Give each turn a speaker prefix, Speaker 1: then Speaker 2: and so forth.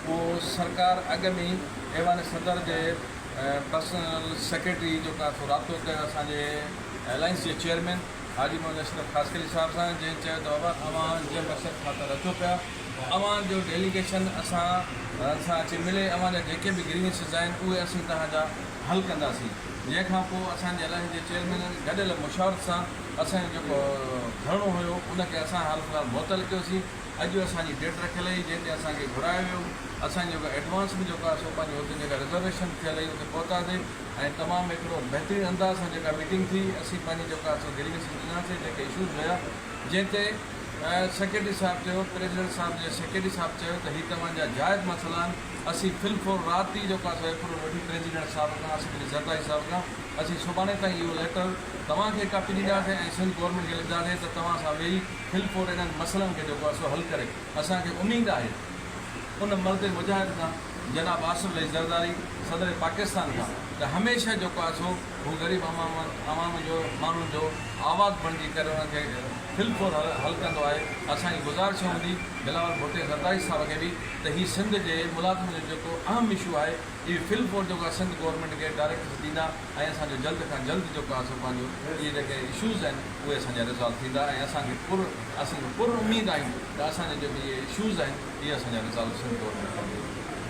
Speaker 1: اهو سرڪار اڳ ۾ ئي ايوان صدر جي پرسنل سيڪريٽري جو ڪافي رابطو ڪيو اسان جي الائنس جي چيئرمين حاجي محمد اشرف خاصخيلي صاحب سان جنهن چيو ته بابا اوهان جنهن مقصد خاطر اچو پيا اوهان جو ڊيليگيشن اسان سان اچي ملي اوهان جا جيڪي به گريوينسز آهن اهي اسين توهان جا حل ڪنداسين جنهن کان پوء اسان جي الائنس جي چيئرمينن گڏيل مشاورت سان اسان جو جيڪو ڌرڻو هيو ان کي اسان حال فلحال معطل ڪيوسين. اڄ اسان جي ڊيٽ رکيل هئي جنهن ڏينهن اسان کي گهرايو ويو اسان جي جيڪا ايڊوانس به جيڪو آهي سو پنهنجي هتي جيڪا رزرويشن ٿيل هئي اتي پهتاسي ۽ تمام هڪڙو بهترين انداز سان جيڪا ميٽنگ ٿي اسين پنهنجي جيڪا سو گريويسز ڏناسي جيڪي اشوز هيا جنهن تي سيڪريٽري صاحب چيو پريزيڊنٽ صاحب جي سيڪريٽري صاحب چيو ته هي توهان جا جائز مسئلا آهن اسين في الفور رات ئي جيڪو آهي سو ايپروول وٺي پريزيڊنٽ صاحب کان آصف علي زرداري صاحب کان اسين سڀاڻي تائين اهو ليٽر توهان کي ڪاپي ڏينداسين ۽ سنڌ گورنمينٽ کي لکنداسين ته توهان سان ويهي کل پور انهن مسئلن کي جيڪو آهي سو حل ڪري اسان کي اميد آهي ان مرد مجاهد کان جناب آصف علي زرداري صدر پاڪستان کان ته هميشه جيڪو آهي سو هو غريب عوام جو ماڻهن جو آواز بڻجي ڪري انهن کي کل پور حل ڪندو آهي اسان جي گذارش هوندي بلاول ڀٽي زرداري صاحب کي به ته هي سنڌ جي ملازمن جو جيڪو اهم اشو آهي اهي کل پور جيڪو آهي سنڌ گورنمينٽ کي ڊائريڪٽس ڏيندا. ۽ اسان جو جلد کان جلد جو ڪا اسان پنهنجو اهي جيڪي اشوز آهن اهي اسان جا ريزالو ٿيندا ۽ اسان کي پر اسان پر اميد آهيون ته اسان جا جيڪي اهي اشوز آهن اهي اسان جا ريزالو سنڌ گورنمينٽ ڪندي.